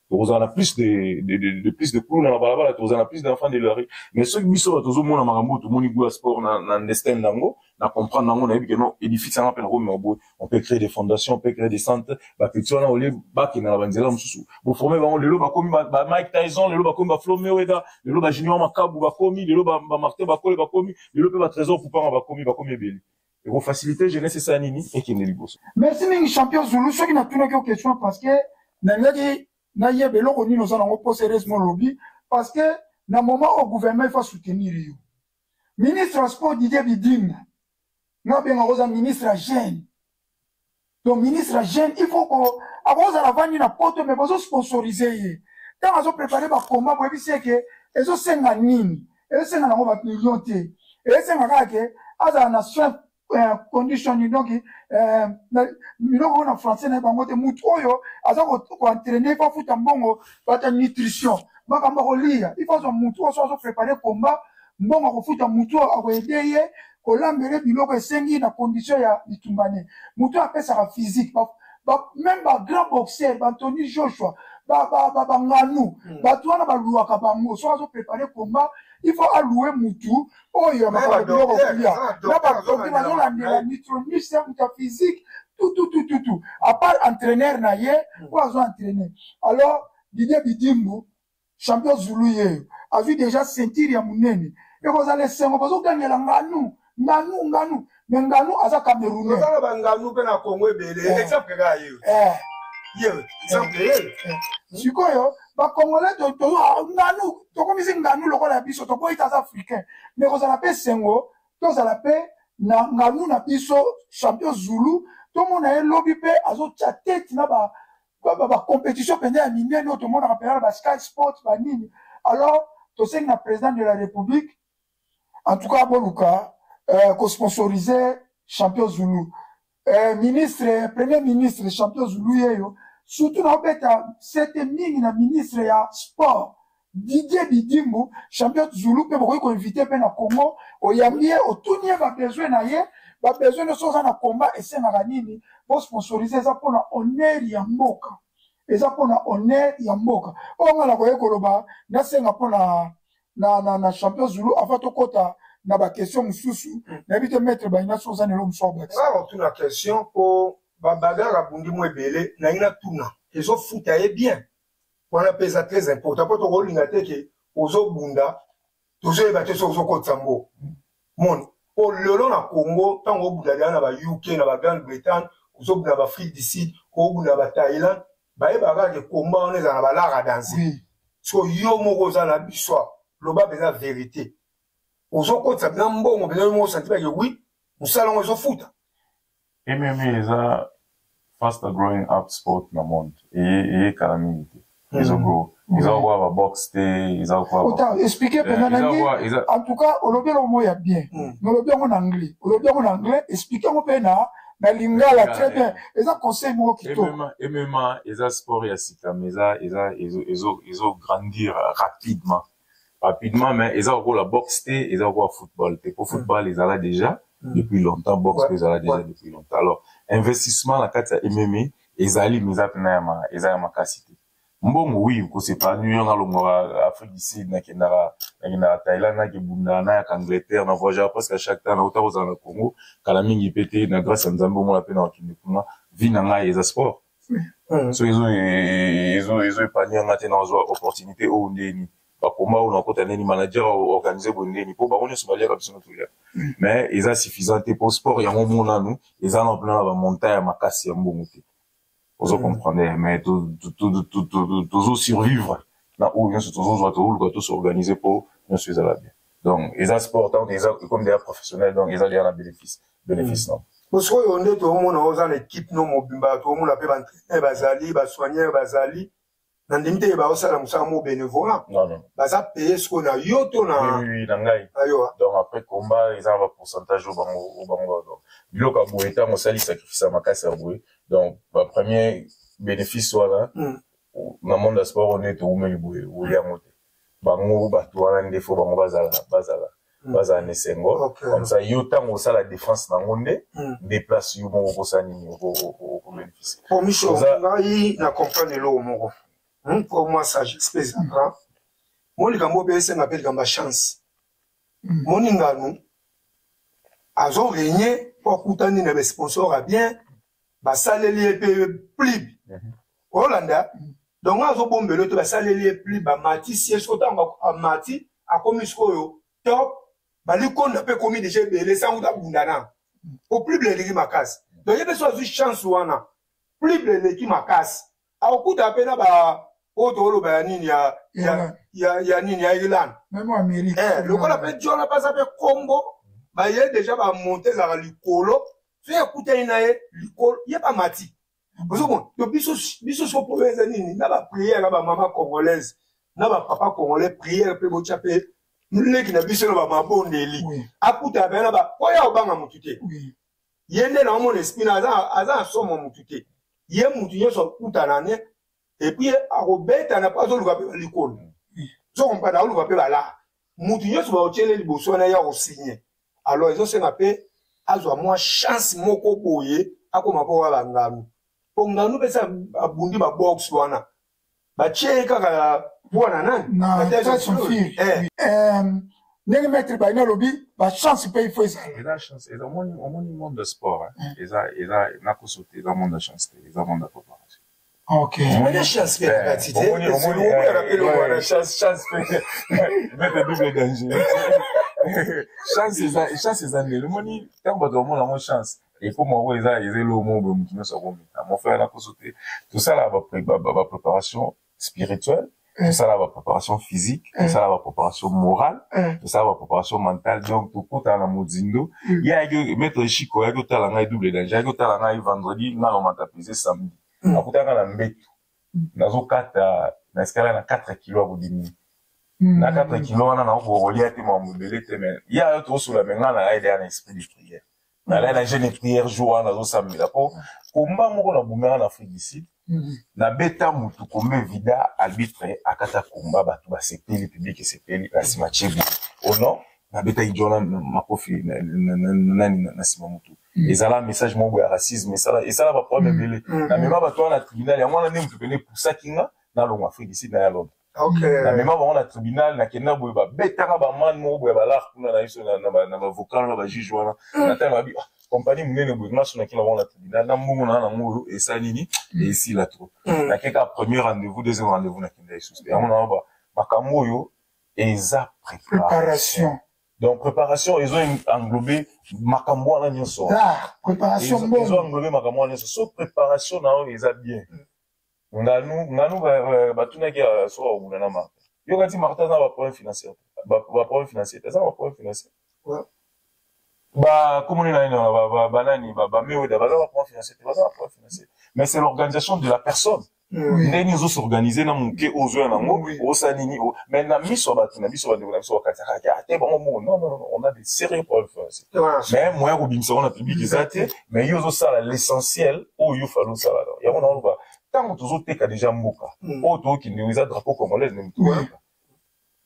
tokozala na plus de, de, de, de plus de kuluna na balabala tokozala na plus d'enfant de la rue mais soki biso bato tozomona makambo oyo tomoni gout ya sport na, na ndestin na yango na comprendre na yango nayebi ke non édifice yanga mpe nakomema boye on peut créer des fondations on peut créer des centres bapeti wana olie bakenda na banzela mosusu boforme bango lelo bakomi ba mike tyson lelo bakomi ba flo meweda lelo ba junior makabu bakomi lelo ba martin bakole bakomi lelo mpe ba trésor poupanga bakomi bakomi ebele eko faciliter jeunesse esala nini ekende liboso merci mingi champion zulu soki natunaki yo question parce que nalingaki nayeba eloko nini oza nango mposa heureusement olobi parce que na moment oyo gouvernement efa soutenir yo ministre ya sport didier bidinga nga obengaka oza ministre ya jeune donc ministre ya jeune il faut ko akozala avandi na poto mais bozo sponsorize ye ntango azo prépare bakomba boyebisi ye ke ezosenga nini ezosenga nango bamillion te ezosenga kaka ke azala na soin euh, condition ni donc euh, biloko oyo na français na ye bango te motu oyo aza koentraine il faut afuta mbongo bata nutrition makambo akolia il faut azwa motu oyo so azo prépare komba mbongo akofuta motu oyo akoede ye kolambele biloko esengi na condition ya bitumba ne moto apesaka physique ba, ba, même ba grand boxeur ba antony joshua banganu ba, ba, ba, ba mm. bato wana baluaka bango soki azoprepare combat il faut alouer mutu oyo makambo biloko kolia na badoki bazolandela nutronius ya mutu ya physique tututututu apart entraîneur na ye oyo azo entraîne alors didie bidimbu Champion Zulu yeyo azwi deja ceinture ya munene ekozala esengo bazogangela nganu nganu nganu me nganu aza camerounais oza na banganu mpe na congo ebele eh. exemple kaka yeyo eh. yeyo exemple eh. yeyo sikoyo bakongole nganu tokomisi nganu lokola ya biso toboyi taza africain me ekozala mpe esengo tozala mpe na nganu na biso champion zulu tomona ye lobi mpe azotya tete na ba bacompétition mpenza ya minene oyo tomonaka mpenza na basky sport banini alors tosengi na président de la république en tout cas boluka euh, kosponsorise champion zulu euh, ministre premier ministre champion zulu yeyo surtout naobeta sete mingi na ministre ya sport Didier Didimbu, champion Zulu mpe bokoki koinvite mpe na Congo, oyambi ye, otuni ye babesoin na ye, babesoin nyonso oza na combat esengaka nini, bosponsorize eza mpo na honneur ya mboka, eza mpo na honneur ya mboka. Oyo nga nakoki koloba, nasenga mpo na, na, na, na champion Zulu avant tokota na ba question mosusu, hmm. nayebi te maître Baina soki oza na eloko mosusu abakisa. Nga nakotuna question mpo babagarre abundi mo ebele, nalingi natuna ezofuta ye bien wana mpe eza très important mpo tokolinga te ke ozobunda tozoyeba te so ozokotisa mbo moni mpo lelo na congo ntango obunda deya na ba uk na ba grande bretagne ozobunda na baafrique du sud obunda na bathaïlande bayebaka kaka ke komba wana ezala na balara danse so yo moko oza na biso loba mpenza verité ozokotisa mpena mbongo mpena yo moko osanti bake wi mosala yango ezofuta MMA eza faster growing up sport na monde eye kala mingi te hmm. ezo grow eza hmm. kokola babox te eza kokoaexplike mpenza eh, nange en tout cas olobi yango mo ya bien hmm. mais olobi yango na anglais olobi yango na anglais explike yango mpe na na lingala très bien eza conseil moko kitokmma eza sport ya sika mais eza ezo grandir rapidement rapidement mais eza lokola boxe te eza lokola football te mpo football mm. ezala déjà mm. depuis longtemps boxe mpe ezala déjà depuis longtemps alors investissement na kati ya mma ezali mais eza mpena eza ya makasi te mbongo wi kosepanui yo nalongwaka afrique du sud nakendaka nakendaka thaïlande nakebunda nayaka angleterre na voyagaka presque chaque temps nauta kozala na congo kala mingi mpe te na grâce ya nzambe omona mpe na bakende kuna vie na ngai eza sport soki ezo epanye yanga te nazwa opportunité oyo ndeni bakoma oyo nakota ndeni manager organise boye ndeni mpo bango nyonso baliaka biso tolia mais eza suffisant te mpo sport yango monanu eza na mpena na bamontagne ya makasi ya mbongo te ozo comprendre mais tozo survivre na oyo nyonso tozozwa tooluka tosorganize mpo nyonso ezala bien donc eza sport donc eza ekomi deya professionnel donc eza deya na bénéfice bénéfice non sikoyo nde toomona oza na équipe no mobimba toomona mpe baentraîneur bazali basoigneur bazali na ndimi te baosala mosala mo bénévolat baza paye sikoyo na yo to na ngai ah. donc après combat eza na bapourcentage oyo bango oyo bango biloko ya boye ntango osali sacrifice ya makasi ya boye donc bapremier bénéfice wana hmm. na monde ya sport oyo nde toumeli boye oyango te bango bato wana nde fo bango bazala bazala mm. bazala na esengo comme ça yo ntango osala défense na yango nde mm. nde place yo moko okosala nini okobenefise po miso ngai na comprendre eloko moko hmm, po mwa sagesse mpe ezanga mo likambo mpe esenga mpe likambo ya chance mm. moningano azo regne mpo akutani na basponsor ya bien basaleli ye mpe plibe mhm. olanda donc nga azobombela te basaleli ye pli bamatisi ye soko ntango amati akomi sikoyo top balikonda mpe ekomi deja ebele sango tabunda na po plible eleki makasi donc ye mpe so azwi chance wana plible eleki makasi akokuta mpe na ba oyo tokoloba ya nini ya, ya, ya, ya nini ya irlande eh, lokola mpe jona baza mpe kombo baye deja bamonte ezalaka likolo so ekutani na ye likolo ye bamati ozomona to biso biso soko problème eza nini na bapriere ya bamama congolaise na bapapa congolais priere mpe botya mpe leki na biso na bamabondeli akuta bena ba oyo akobanga motu te ye nde na omona espina aza na somo motu te ye motu nyonso akutana ne et puis akobetana mpo azoluka mpe balikolo so kompana akoluka mpe balaa motu nyonso baotyele liboso wana ye akosigne alors ezosenga mpe azwa mwa chance moko boye akoma mpo wa banganu mpo nganu mpe sa abundi babox wana batye ye kaka bwana nani eh. eh, ndenge maître baina alobi bachance mpe ifo ezalaomoni monde sport eza nakoso te eza monde ya chance te eza monde ya papa omoni chance mpe na kati te omonaka mpe lokola chance chance mpe mete double danger chance eza ndele omoni ntango bato bamona yango chance ekoma oyo eza eza eloo moko boye moto nyonso akomi na mofele na poso te tosalaka bapreparation spirituelle Mm. tosala ba préparation physique mm. tosala ba préparation morale mm. tosala ba préparation mentale donc tokutana na mozindo ye ayaki maître chiko ayaki otala ngai double danger ayaki otala ngai vendredi ngai nomata pese samedi akutaka na mbetu nazokata na escala na 4 kilo ya bodimi na 4 kilo wana nakokolia te makambo ebele te me ye ayo tokosola me ngai na aide ya na esprit de prière nalai na jeune prière jour wana nazosambela mpo komba moko na bumera na afrique du sud mm-hmm. nabeta motu kombe vida arbitre akata komba bato basepeli publike esepeli na nsima chebu o oh non nabeta idjona makofi nani na nsima motu mm. ezala message moko ya racisme esala baproblème mm. ebele mm. namema bato wana na tribunal yango wana nde motu pene epusaki nga nalongo afrique du sud na ya londres Okay. na mema bango na tribunal nakenda boye babetaka bamane moko boye balaka kuna na biso na- na ba- na bavocat wana bajuge wana natanga babi ah, kompani monene boye maso nakenda bango na tribunal na mbongo naa nango oyo esa nini esila trop Mm. nakeka premier rendez-vous deuxième rendez-vous nakenda lisusu te yango naa makambo oyo eza preparation Préparation. donc préparation ezo englobe makambo wana nyonso wana. Ah, préparation Ezo- ezo mbongo. englobe makambo wana nyonso so préparation na yo eza bien Nganu, nganu ba, ba, batunaki ya soka kobunda na Martin. Yo kati Martin aza ba problème financier. Ba, ba problème financier. Aza ba problème financier. Ouais. Ba komoni na ina ba ba ba nani ba ba mewe da ba ba problème financier. Ba ba problème financier. Mais c'est l'organisation de la personne. Oui. Ndenge ozo s'organiser na muke ozo ya nango, oui. osa nini o. Mais na miso ba tuna biso ba ndeko na biso ba kati kati. Ate bango mo. Non non non, on a des sérieux problèmes financiers. Ouais. Mais moyen ko bimisa on a public ezate, mais yo ozosala l'essentiel oyo yo fali osalaka yango na oloba ntango tozoteka deja mboka mm. oyo tookende eza drapeau congolais nde motoyaka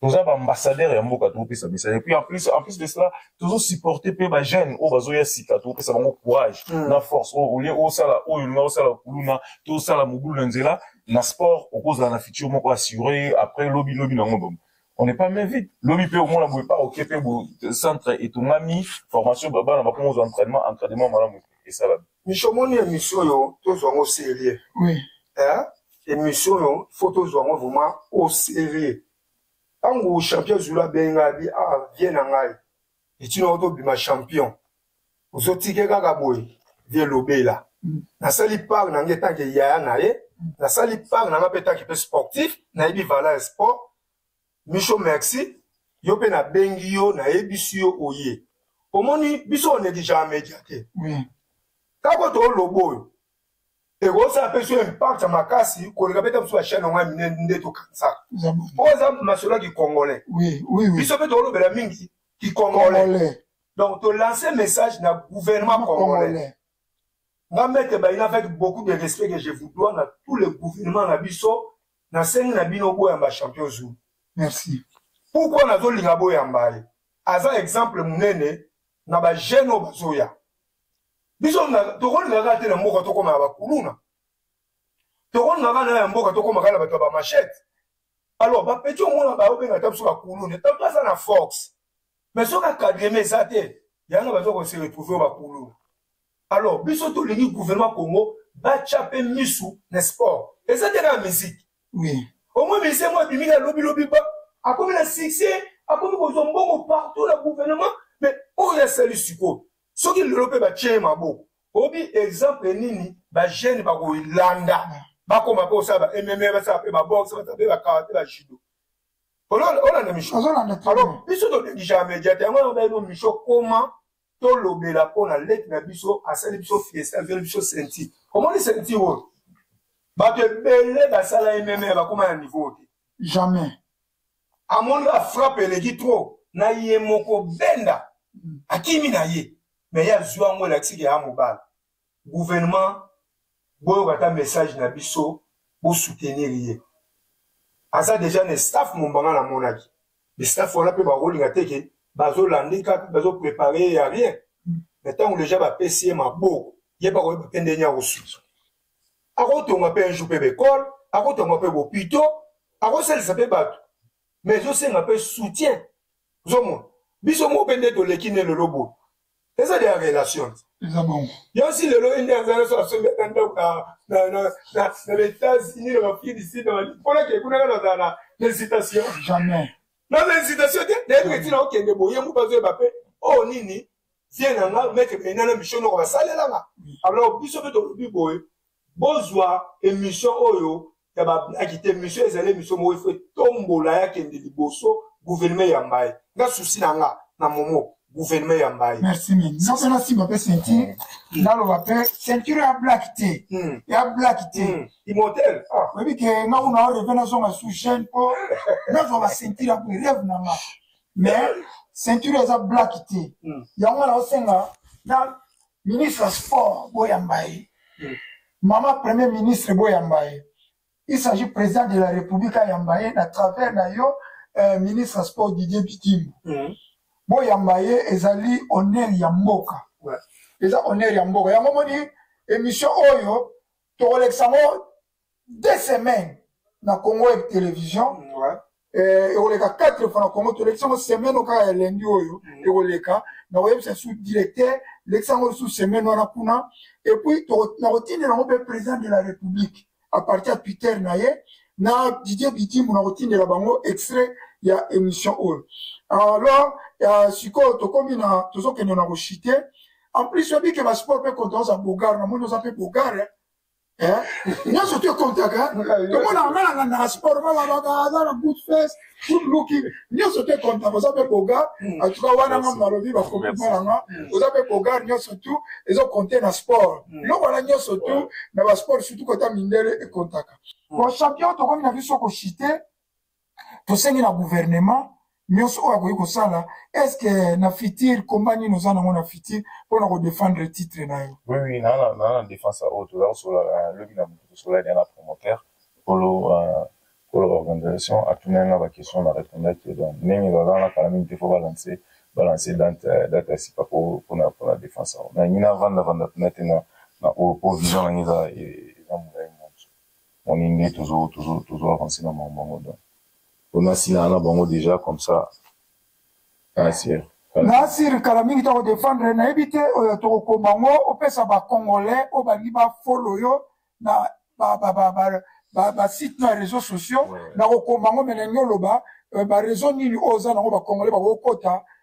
toza baambassadeur ya mboka tokopesa misala epuis en plus en plus de cela tozosupporte mpe bajeune oyo bazoya sika tokopesa bango courage mm. na force oyo olie osala oyo olinga osala kuluna to osala mobulu na nzela na sport okozala na future moko assure après lobi lobi nango bongo on n'est pas même vite lobi pe omona boye pa oke pe bo centre etongami formation babana bakoma ozwa entraînement entraînement malamu esala miso omoni émission oyo tozwa yango sérieux oui hein émission oyo faut tozwa yango vraiment au sérieux ntango champion zulu abengi ngai abi ah vie na ngai etino oto bima champion ozotike kaka boye vie lobela mm. nasali part na ngai etanke yaya na ye nasali part na ngai mpe etanke mpe sportif nayebi valeur ya sport micho merci yo mpe nabengi yo nayebisi yo oye omoni biso onegligea media te kaka toloba oyo ekosala mpe so impact ya makasi koleka beta mosusu bachaine yango ya minene nde tokanisaka mpo eza masolo ya kikongolais biso mpe tokolobela mingi kikongolais donc tolance message na gouvernement congolais nga mete bayina avec beaucoup de respect que je vous dois na tout le gouvernement na biso nasengi na bino boyamba champion zulu merci pourkui nazolinga boyamba ye aza exemple monene na bajeune oyo bazoya biso tokolinga kaka te na mboka tokoma na bakuluna tokolinga kaka na ya mboka tokoma kaka na bato ya bamachete alors bapeti omona baobenga ata biso bakuluna ata baza na force mais soki akadreme eza te yango baza kose retrouve oyo bakuluna alors biso tolingi gouvernement congo batya mpe misu na sport eza te na miziki oui. omoi mise mwa abimi na lobilobi ba akomi na succès akomi kozwa mbongo partout na gouvernement mais oyo asali sikoyo soki lelo mpe batye ye maboko obi exemple nini bajeune bakolanda bakoma mpe kosala ba mme basala mpe baboxe basala mpe bakarate bajudo olanda misho alors biso tonegisaka media te yango nabaino misho koma tolobela mpo na leki na biso asali biso fiesta azweli biso senti omoni senti oyo bato ebele basala mme bakoma na niveau te jamais amoni ba frappe eleki trop na ye moko benda akimi na ye me ye azwi yango elakisi ke ya mobali gouvernement boyoka ata message na biso bosoutenir ye aza deja na staff mombanga namonaki staff wana mpe bakolinga te ke bazolande kaka bazoprepare ye ya rien me ntango deja bapesi ye maboko ye bakoyeba mpe ndenge ya kosusu akotonga mpe un jour mpe baekole akotonga mpe bopito akosalisa mpe bato mais ezosenga mpe soutien ozomona biso moko mpe nde toleki nde lelo boye eza de ya relation yansi lelo ye nde aza naso asombi ata ndako na baétats-unis na bafrique du sud mpona ke kuna kaka azala na incitation jamais naza incitation te nayebi etina okende boye mpo bazoyeba mpe oyo oh, nini vie na nga meke mena na mission noko basalela nga alors biso mpe tolobi boye bozwa émission oyo ya bablaki te émission ezali émission moko ifo etombola ya kende liboso gouvernement ya mbaye nga susi na nga na momo gouvernement ya mbaye merci mingi soki nasimba mpe ceinture naloba mpe ceinture ya black te ya black te imotel oyebi ke nga kuna oreve nazonga sous chaine mpo nazwa baceinture ya boye reve na nga mais ceinture eza black te hmm. yango wana osenga na ministre ya sport boyamba ye hmm. mama premier ministre boyamba ye il s'agit président de la république ayamba ye na travers na yo euh, ministre ya sport didier bitimbo hmm. boyamba ye ezali honneur ya mboka eza honneur ya mboka yango moni émission oyo tokolekisa yango deux semaines na congo eb télévision mm, eh, ekoleka quatre fois na congo tolekisa yango semaine okaka ya lendi oyo mm. ekoleka na koyebisa su directeur lekisa yango lisusu semaine wana kuna epuis na kotindela yango mpe président de la république à partir ya twitter na ye na didier bidimu na kotindela bango extrait ya émission oyo alors euh, sikoyo tokomi na tozokende na koshite en plus oyebi ke basport mpe konta oza bogare namoni oza mpe bogare eh? Eh? nyonso te kontaka tomona anga na ngandaka sport balabaka aza na good face good looking nyonso te kontaka oza mpe bogar hmm. atuka wana nga malobi bakomi malanga hmm. oza mpe bogar nyonso tu ezo konte na sport hmm. eloko wana nyonso tu na basport surtout kota mindele ekontaka bon champion tokomi na biso koshite tosengi na gouvernement nyonso oyo akoki kosala estce na fitir komba nini oza nango na fitir mpo na kodefendre titre na yo oui naa na defense ya oyo toza kosola euh, lobi na moto tosola lia na promoteur kolo euh, kolo organisation atunaki nga baquestion na répondaki donc ndenge baza na kala mingi te fo balance balance date euh, ya sika mpona mpona defense yango nangi navanda vanda mpena te na oyo mpo vision nangi eza e, Moni nde tozo tozo tozo avancer na makambo yango donc pona asilana na bango deja comme ça nasir nasir kala mingi toko defendre nayebi te oyo tokokoma yango opesa bacongolais oyo balingi bafolo yo na basite na réseau sociaux nakokoma yango me nalingi oloba bareseau nini oyo oza nango bacongolais bakokota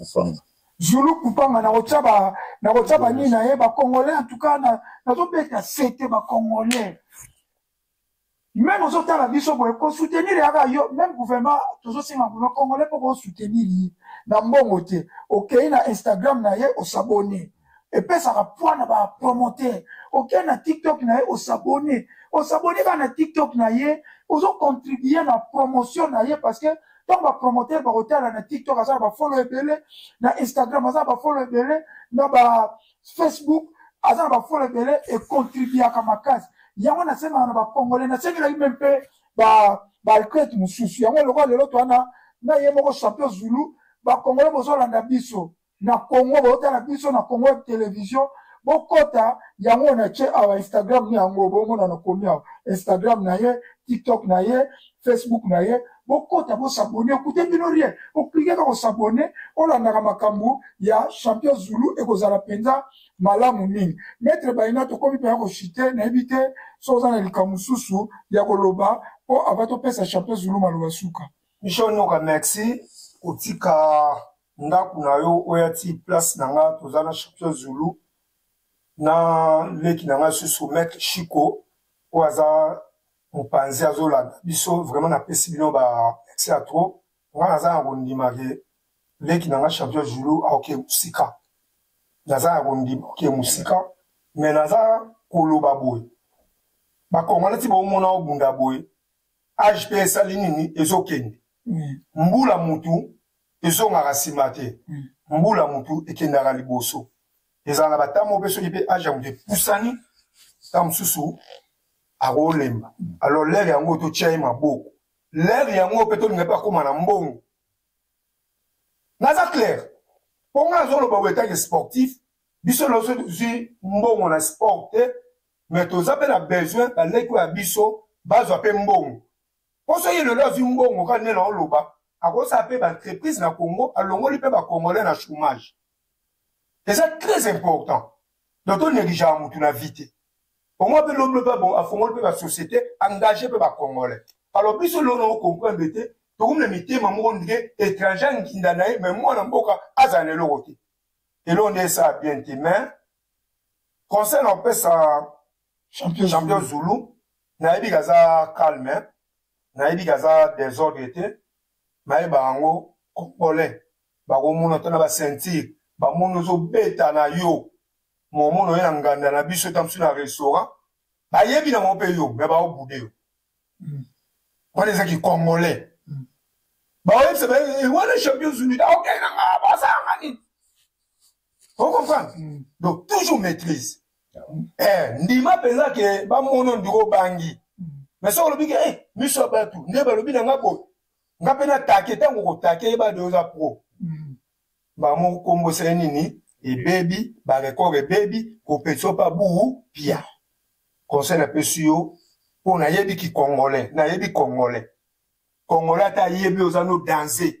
Mfwanga. Zulu Kupanga na kotia ba na kotia ba nini na ye ba congolais en tout cas na nazo beta sete ba congolais. Même ozo tala biso boye ko soutenir ya ba yo même gouvernement tozo senga gouvernement congolais pour ko soutenir ye na mbongo te. Okeyi na Instagram na ye o s'abonner. epesaka poids na ba promoteur okei na tiktok na ye osabone osabone kaka na tiktok na ye ozocontribue na promotion na ye parce que ntango bapromoteur bakotala na tiktok aza na bafolo ebele na instagram aza na bafolo ebele na ba facebook aza na bafolo ebele econtribuaka makasi yango nasengaka na bacongolais nasengelaki me mpe baalcrete mosusu yango eloko lelo toana na ye moko champion zulu bacongolais bozolanda biso na congo botala biso na congo web television bokota yango na ce awa instagram na yango bomona nakomi awa instagram na ye tiktok na ye facebook na ye bokota bosabone ekute bino rien oklike kaka osabone olandaka makambo ya champion zulu ekozala mpenza malamu mingi maitre baina tokomi mpenza koshite nayebi te so oza na likambo mosusu ya koloba mpo ava topesa champion zulu maloba suka michel noka merci kotika ndako na yo oya ti place na nga toza na champion zulu na leki na nga susu maître chico oyo aza mopanzi azolanda biso vraiment napesi bino ba merci ya trop nga naza na kondima ke leki na nga champion zulu aoke mosika naza na kondima oke mosika me naza koloba boye bakongana ti bomona obunda boye age mpe esali nini ezokende mm. mbula mutu ezongaka nsima te mbula motu ekendaka liboso ezala na batango mpe soki mpe age ya moto epusani ntango mosusu akolemba alors lere yango totya ye maboko lere yango mpe tolinga mpe akóma na mbongo naza claire mpo ngai nazoloba boye etanke sportif biso nyonso tozwi mbongo na sport te mais toza mpe na besoin baleki oyo ya biso bazwa mpe mbongo mpo soki lelo azwi mbongo kaka ndenge naoloba akosala mpe baentreprise na congo alongoli mpe bacongolais na chômage eza très important donc tonegligeaka motu na vie te omoi mpe loblo mpe bon afongoli mpe basociété engage mpe bacongolais alors biso lelo na ocomprendre te tokomi na mitema moko ndike étranger anginda na ye mai mwana mboka azala na eloko te eloko nde esala bien te mais conseil na opesa champion, champion zulu nayebi kaza calme hein? nayebi kaza desordre te mayeba yango congolais bakomona to na baceinture bamoni ozobeta na yo momona oye na nganda na biso etambiso na restaurant bayebi nango mpe yo me baobude yo hmm. wana eza kicongolais hmm. baoyebisa baye eh, wana champion zulu aokende na ngaa basanga nini ocomprendre hmm. donc toujours maîtrise eh, ndima mpenza ke bamono ndiko obangi me soki olobi ke eh, miso ya bato nde balobi na nga boye nga mpe natake ntango okotake yeba de oza pro mm. bango nkombo esali nini ebebi barekord ebebi kopetisa yo mpa buu pia conseil napesi yo mpo nayebi kikongolais nayebi kongolais kongolais ata ayebi oza no danse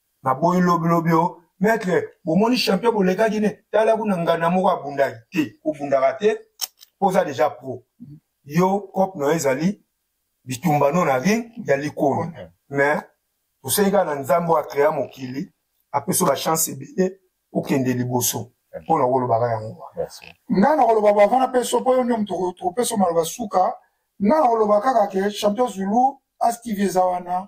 naboyi lobilobi o maitre bomoni champion bolekaki ne tala kuna ngana moko abundaki te obundaka te mpo oza deja pro yo cope na yo ezali bitumbano na ring ya likolo mais toseki kaka na nzambe oyo akrea mokili apesa bachance ebele okende liboso mpo na kolobaka yango ngai nakoloba bava na peso mpo yo nde moto tokopesa maloba suka ngai nakoloba kaka ke champion zulu astv eza wana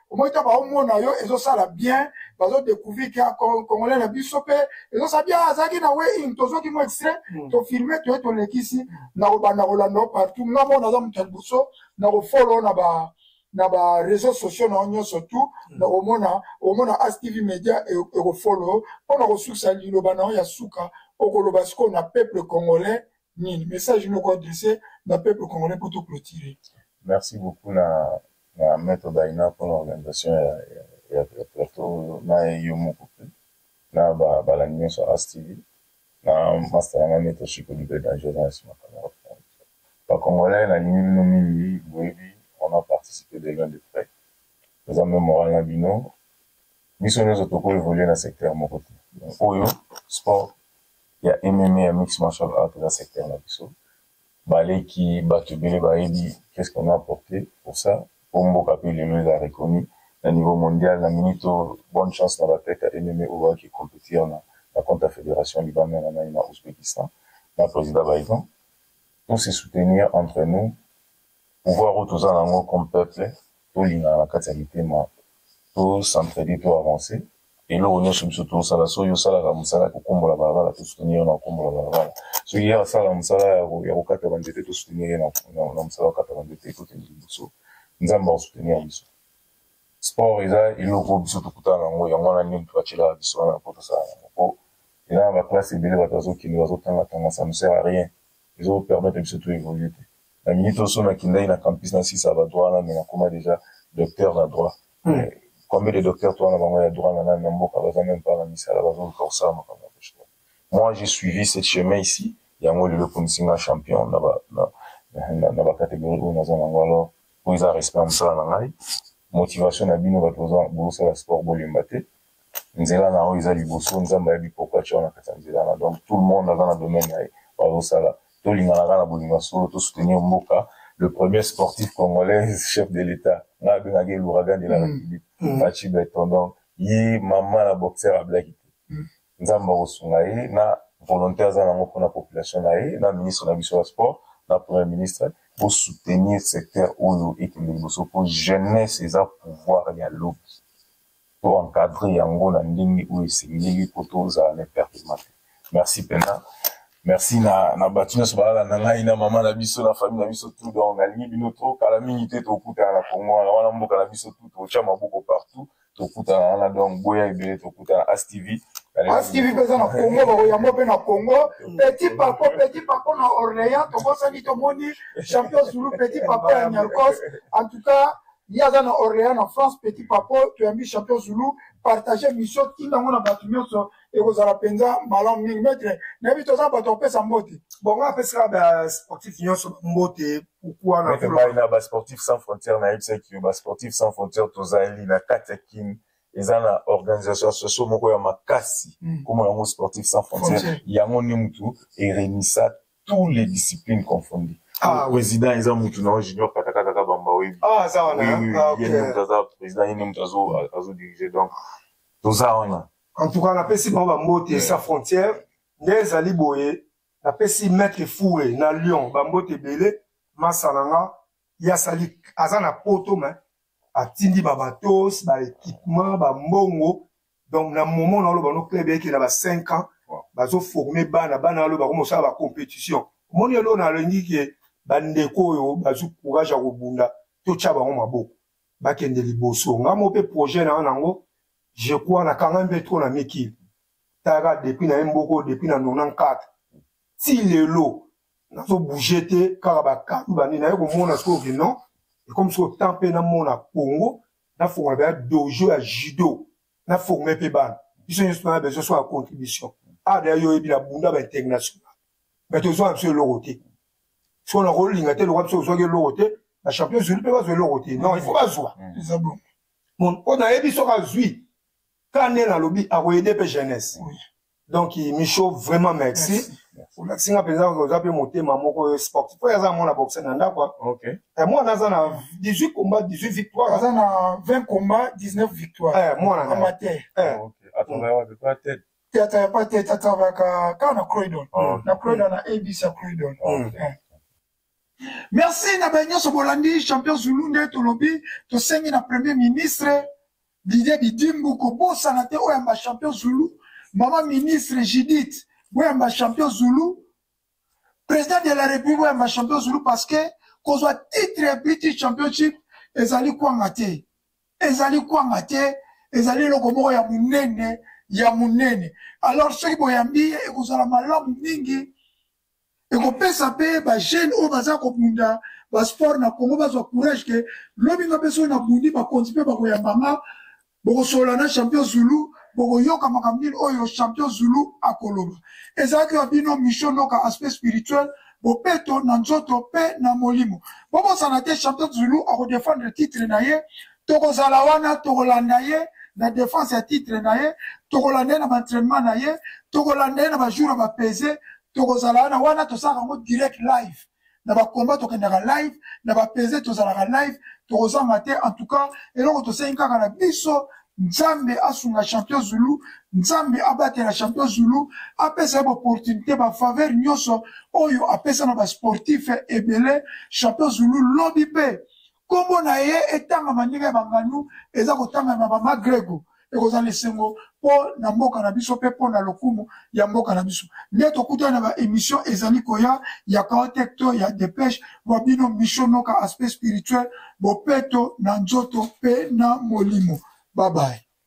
omoi ta baomona yo ezosala bien bazo découvrir ke congolais na biso mpe ezosala bien azalaki na wein tozwaki mo extrait hmm. tofilme toye tolekisi na kobanda kolanda yo partout nga mona aza moto ya liboso na kofolo na ba na ba réseaux sociaux na yo nyonso tout hmm. na komona okomona astv média e, ekofolo mpo na kosukisa liloba na yo ya suka okoloba sikoyo na peuple congolais nini message noko adresse na peuple congolais mpo to clôturer merci beaucoup na na maître daina mpona organisation ya, ya, ya, ya plateau oyo na yo moko mpe na balandi nyonso ya astv na master yanga maître chiko libre danger na nsima kamera bacongolais nalingi bino mingi boyebi on a participé de loin de près eza mpe moral na bino biso nyoso toko evolue na secteur moko te oyo sport ya MMA ya mix martial art eza secteur na biso baleki bato ebele bayebi qu'est-ce qu'on a apporté pour ça po mboka pe lelo eza reconnu na niveau mondial na minute oyo bonne chance na batete ya MMA oyo baoki compétir na na compte ya fédération libanda na nani na Ouzbékistan na président Baïvan tous se soutenir entre nous Pouvoir oyo toza na yango comme peuple, tolingana na kati ya mitema, to s'entraider, to avancer. Eloko nyonso biso tozosala, soki yo osalaka mosala ya kokombola balabala, to soutenir yo na kokombola balabala. Soki ye asalaka mosala ya kokata ba nzete, to soutenir ye na mosala ya kokata ba nzete, ekokende liboso. Nzambe ako soutenir biso. Sport eza eloko oyo biso tokutana na yango, yango wana nini batyelaka biso wana mpo tosala yango, mpo eza na ba classe ebele bato bazokende bazotangatanga, ça ne sert à rien. ezo permettre biso to evoluer te na minute oyo so nakendaki na campus na sisa ba droit wana mais nakoma deja docteur na droit hmm. combien de docteur to wana bango ya droit na nani na mboka baza meme pas na misala bazoluka kosala makambo ya boshua moi j'ai suivi cette chemin ici yango lelo ekomisi nga champion na ba na, na, na bacatégorie oyo naza nango alors oyo eza respect ya mosala na ngai motivation na bino bato bosala sport bolemba te nzela na yo eza liboso nzambe ayebi pourkui atya yo na kati ya nzela wana donc tout le monde aza na domaine na ye bazosala tolingana kaka na bolingo ya solo tosoutenir mboka le premier sportif congolais chef de l'état ngai abengaki louragan de la mm. république mm. machi beton donc ye mama na boxer ablaki te mm. nzambe akosunga ye na volonté aza nango mpona population na ye na ministre na biso ya sport na premier ministre bosoutenir secteur oyo ekende liboso mpo jeunesse eza pouvoir ya lobi to encadrer yango na ndenge oyo esengeli mpo tozala na epertement te merci mpenza merci na, na bato nyonso balala na ngai na mama na biso na famille na biso tout donc nalingi bino to kala mingi te tokutana na kongo wana wana mboka na biso tout totya maboko partout tokutana wana donc boya ebele tokutana astv astv mpeza na kongo bakoyamba mpe na kongo petit papo petit papo na orléans tobosani tomoni champion zulu petit papo ya nyarcos en tout cas Ye aza na Orleans na France petit papo toyambi champion Zulu partager mission tinda yango na bato nyonso ekozala mpenza malamu mingi maitre nayebi toza bato ya kopesa mbote bongo apesaka basportif nyonso mbote pourkui na basportif sans frontière nayebisaki yo basportif sans frontière tozali na kati ya kin eza na organisation socio moko ya makasi hmm. komona yango sportif sans frontière yango nde motu eremisa tous les disciplines confondues ah, président eza mutu na junior katakata kabamba oyebi ah, ah, ye nde moto aza président ye nde moto azodirige donc toza wana en tout cas napesi bango bambote sa frontière nde ezali boye napesi maître foure na lyon bambote ebele masa na nga ye asali aza na poto me atindi babatos baéquipement bambongo donc na moment na oloba no club yake na ba 5 ans bazo former bana bana aloba ko mosala ba competition moni elo na lengi ke bandeko oyo bazu courage ya kobunda totya bango maboko bakende liboso nga mo mpe projet na yango je crois na kanga mpe trop na mikili taka depuis na ye mboko depuis na 94 ti lelo nazo bouge te kaka bakanu bani naye komona soki non ekomi soki temps mpe namona congo na fongola ba dojo ya judo na forme pe bana biso nyonso tona besoin so ya contribution awa deya yo oyebi na bunda ba international mais tozwaka biso eloko te so na kolinga te lokola biso ozwaki eloko te na champion zulu mpe bazwa eloko te non ifo bazwa mpo nayebi soki azwi kane nalobi akoyede mpe jeunesse donc micho vraiment merci, merci. olakisi nga mpenza oza mpe motema moko oyo sportif oyo aza mwana boxe na ndako okay. eh, mwana aza na 18 combat 18 victoire aza na 20 combat 19 victoire eh, mwana amateur eh. okay. atongaka wapi kwa tete tete ya pa tete atavaka kaka na croydon oh. na croydon na abc ya croydon oh. mm. eh. merci na baye nyonso bolandi champion zulu nde tolobi tosengi na premier ministre Didier Didimbu kobosana te oyamba champion Zulu mama ministre Judith boyamba champion Zulu président de la république boyamba champion Zulu parce que kozwa titre ya British championship ezali kwanga te ezali kwanga te ezali eloko moko ya monene ya monene alors soki boyambi ye ekozala malamu mingi ekopesa mpe bajeune oyo baza kobunda basport na congo bazwa courage ke lobi nga mpe soki nabundi bakonzi mpe bakoyamba nga bokosolola na champion zulu bokoyoka makambo nini oyo champion zulu akoloba ezalaki ya bino micho noka aspect spirituel bopeto na nzoto mpe na molimo bobosana te champion zulu akodefendre titre na ye tokozala wana tokolanda ye na defense ya titre na ye tokolanda ye na baentrainement na ye tokolanda ye na bajour ya bapese tokozala wana wana tosalaka yango direct live na bakomba tokendaka live na bapese tozalaka live tokozanga te en tout cas eloko tosengi kaka na biso nzambe asunga champion zulu nzambe abatela champion zulu apesa ye baopportunité bafaveur nyonso oyo apesa na basportif ebele champion zulu lobi mpe nkombo na ye etangama ndenge ya banganu eza kotangama na bamagrego ekozala na esengo mpo na mboka na biso mpe mpo na lokumu ya mboka na biso nde tokutani na baémission ezali koya ya kaotek to ya depeshe bwa bino misho noka aspect spirituel bopeto na nzoto mpe na molimo babaye